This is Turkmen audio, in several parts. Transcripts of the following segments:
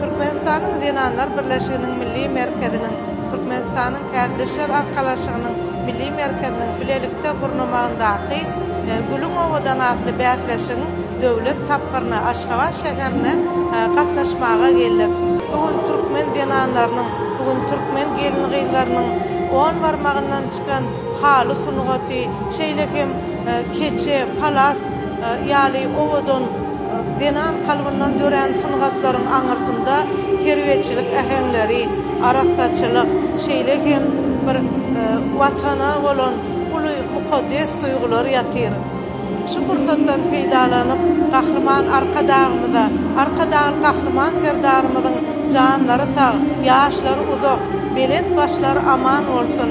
Türkmenistanyň Zenanlar birleşiginiň Milli merkeziniň, Türkmenistanyň Kärdeşler arkalaşygynyň Milli merkeziniň bilelikde gurnamagyndaky Gülüň owadan atly bäsleşigiň döwlet tapgyryna Aşgabat şäherine gatnaşmaga geldik. Bu gün türkmen zenanlarynyň, bu gün türkmen gelin-gyzlarynyň on barmagyndan çykan haly sungaty, şeýle hem keçe, palas ýaly owadan, Zenan kalbyndan dörän sungatlaryň aňyrsynda terbiýeçilik äheňleri, arassaçylyk, şeýle hem bir Watana bolan uly mukaddes duýgular ýatyr. Şu pursatdan peýdalanyp, Gahryman Arkadagymyza, Arkadagly Gahryman Serdarymyzyň janlary sag, ýaşlary uzak, belent başlary aman bolsun!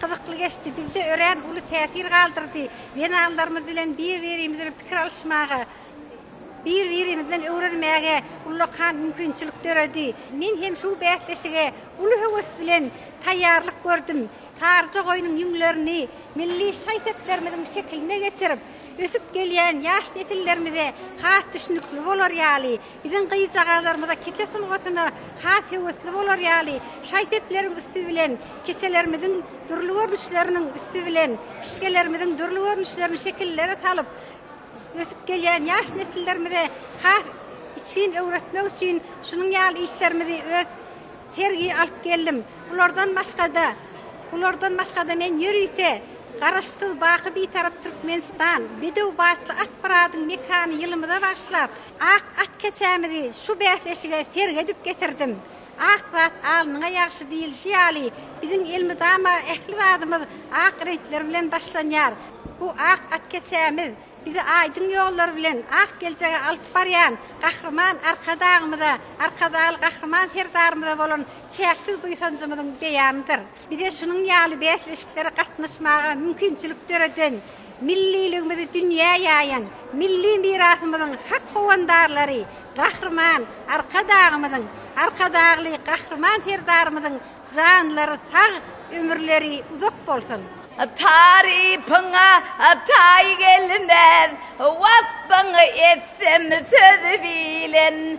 Gyzykly geçdi, bizde örän uly täsir galdyrdy. Zenanlarymyz bilen bir-birimiz bilen pikir alyşmaga, bir-birimizden öwrenmäge ullakan mümkinçilik döredi. Men hem şu bäsleşige uly höwes bilen taýýarlyk gördüm. Saryja goýnuň ýüňlerini milli şaý-seplerimiziň şekiline geçirip, ösüp gelýän ýaş nesillerimize has düşnükli bolar ýaly, Biziň gyzjagazlarymyza kese sungatyna has höwesli bolar ýaly, şaý-sepleriň üsti bilen keselerimiziň dürli görnüşleriniň üsti bilen pişgelerimiziň dürli görnüşlerini şekillere salyp, ösüp gelýän ýaş nesillerimize has içgin öwretmek üçin şunuň ýaly işlerimizi öz sergi alyp geldim. Bulardan başga-da, bulardan başga-da men ýörite Garaşsyz, baky Bitarap Türkmenistan, Bedew batly Akmyradyň mekany ýylymyza bagyşlap, Ak at keçämizi şu bäsleşige sergi edip getirdim. Ak zat alnyňa ýagşy diýilişi ýaly, biziň elmydama ähli zadymyz ak reňkler bilen başlanýar. Bu ak at keçämiz bizi aýdyň ýollar bilen ak geljege alyp barýan Gahryman Arkadagymyza, Arkadagly Gahryman Serdarymyza bolan çäksiz buýsanjymyzyň beýanydyr. Bize şunuň ýaly bäsleşiklere gatnaşmaga mümkinçilik döreden, milliligimizi dünýä ýaýan milli mirasymyzyň hak howandarlary Gahryman Arkadagymyzyň, Arkadagly Gahryman Serdarymyzyň janlary sag, ömürleri uzak bolsun! Tarypyňa taý gelmez, wasbyňy etsem söz bilen.